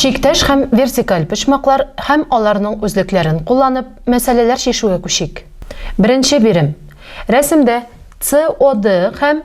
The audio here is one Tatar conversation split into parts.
Чиктәш һәм вертикаль почмаклар һәм аларның үзлекләрен кулланып, мәсьәләләр чишүгә күчик. Беренче бирем. Рәсемдә COD һәм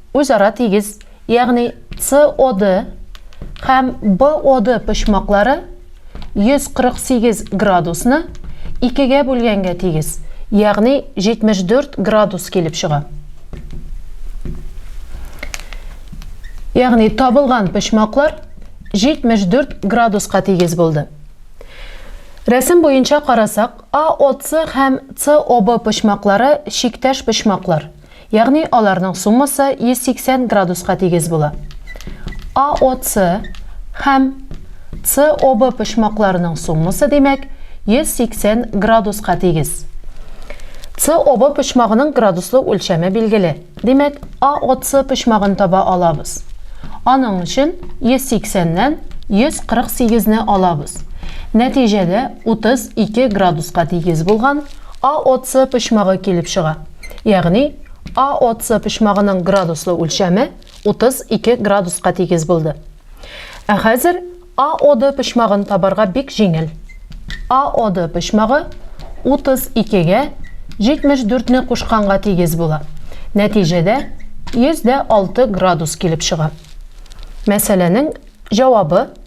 Үзара тигез, ягъни COD һәм BOD почмаклары 148 градусны икегә бүлгәнгә тигез, ягъни 74 градус килеп чыга. Ягъни табылган почмаклар 74 градуска тигез булды. Рәсем буенча карасак, AOC һәм COB почмаклары чиктәш почмаклар. Ягъни аларның суммасы 180 градуска тигез була. АОЦ һәм СОБ почмакларының суммасы, димәк, 180 градуска тигез. СОБ почмагының градуслы үлчәме билгеле. Димәк, АОЦ почмагын таба алабыз. Аның өчен 180-нән 148-не алабыз. Нәтиҗәдә 32 градуска тигез булган АОЦ почмагы килеп чыга. Ягъни, АОЦ почмагының градуслы үлчәме 32 градуска тигез булды. Ә хәзер АОД почмагын табарга бик җиңел. АОД почмагы 32гә 74 не кушканга тигез була. Нәтиҗәдә 106 градус килеп чыга. Мәсьәләнең җавабы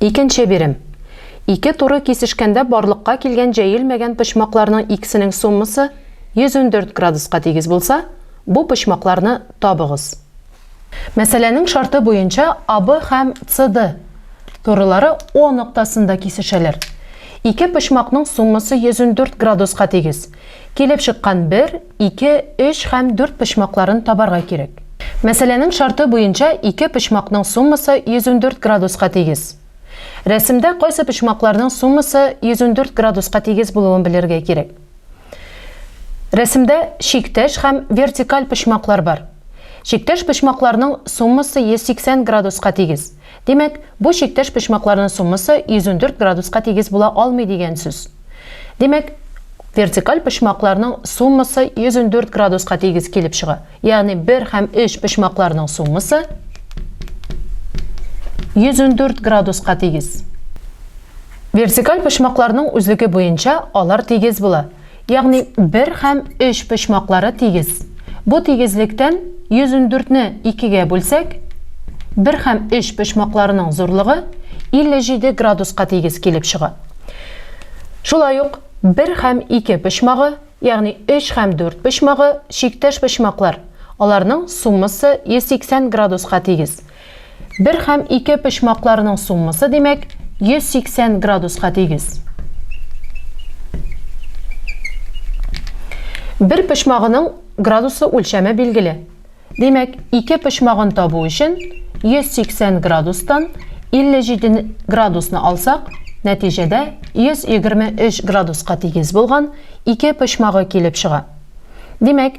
Икенче бирем. Ике туры кисешкәндә барлыкка килгән җәелмәгән почмакларның икесенең суммасы 114 градуска тигез булса, бу почмакларны табыгыз. Мәсьәләнең шарты буенча АБ һәм CD турылары О ноктасында кисешәләр. Ике почмакның суммасы 114 градуска тигез. Килеп чыккан бер, ике, өч һәм дүрт почмакларын табарга кирәк. Мәсьәләнең шарты буенча ике почмакның суммасы 114 градуска тигез. Рәсемдә кайсы почмакларның суммасы 114 градуска тигез булуын белергә кирәк. Рәсемдә чиктәш һәм вертикаль почмаклар бар. Чиктәш почмакларның суммасы 180 градуска тигез. Димәк, бу чиктәш почмакларның суммасы 114 градуска тигез була алмый дигән сүз. Димәк, вертикаль почмакларның суммасы 114 градуска тигез килеп чыга. Ягъни 1 һәм 3 почмакларның суммасы 114 градуска тигез. Вертикаль почмакларның үзлеге буенча алар тигез була. Ягъни бер һәм өч почмаклары тигез. Бу тигезлектән 114 не икегә бүлсәк, бер һәм өч почмакларының зурлыгы 57 градуска тигез килеп чыга. Шулай ук бер һәм ике почмагы, ягъни өч һәм дүрт почмагы, чиктәш почмаклар, аларның суммасы 180 градуска тигез. Бер һәм ике почмакларның суммасы, димәк, 180 градуска тигез. Бер почмагының градусы үлчәме билгеле. Димәк, ике почмагын табу өчен 180 градустан 57 градусны алсак, нәтиҗәдә 123 градуска тигез булган ике почмагы килеп чыга. Димәк,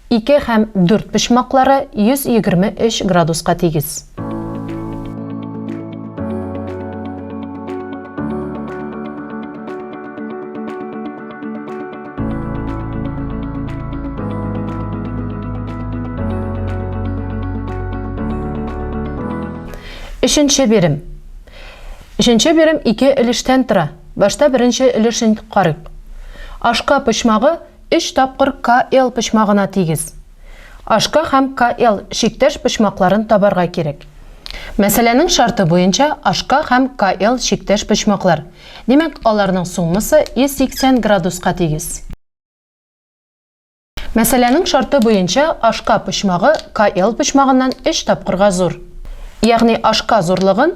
Ике һәм дүрт почмаклары 123 градуска тигез. Өченче бирем. Өченче бирем ике өлештән тора. Башта беренче өлешен карыйк. Ашка почмагы Өч тапкыр КЛ почмагына тигез. HK һәм КЛ чиктәш почмакларын табарга кирәк. Мәсьәләнең шарты буенча HK һәм КЛ чиктәш почмаклар, димәк, аларның суммасы 180 градуска тигез. Мәсьәләнең шарты буенча HK почмагы КЛ почмагыннан өч тапкырга зур. Ягъни HK зурлыгын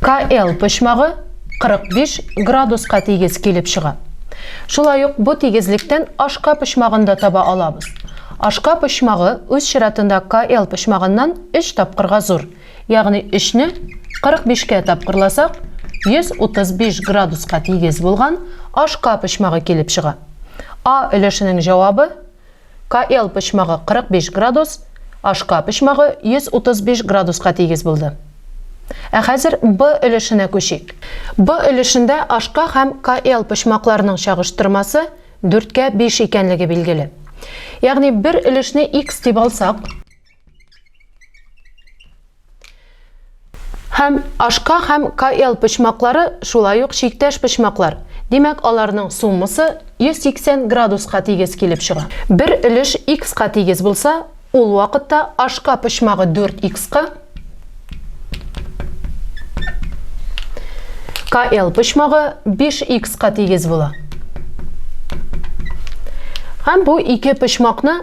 КЛ почмагы 45 градуска тигез килеп чыга. Шулай ук бу тигезлектән ашка почмагын да таба алабыз. Ашка почмагы үз чиратында КЛ почмагыннан 3 тапкырга зур, ягъни 3 не 45 кә тапкырласак, 135 градуска тигез булган ашка почмагы килеп чыга. А өлешенең җавабы Каел почмагы 45 градус, Ашка почмагы 135 градуска тигез булды. Ә хәзер Б өлешенә күчик. Б өлешендә Ашка һәм Каел почмакларының чагыштырмасы дүрткә биш икәнлеге билгеле. Ягъни бер өлешне X дип алсак, Һәм ашка һәм КЛ почмаклары шулай ук чиктәш почмаклар. Димәк, аларның суммасы 180 градуска тигез килеп чыга. Бер өлеш икска тигез булса, ул вакытта ашка почмагы 4 икска, КЛ почмагы 5 икска тигез була. Һәм бу ике почмакны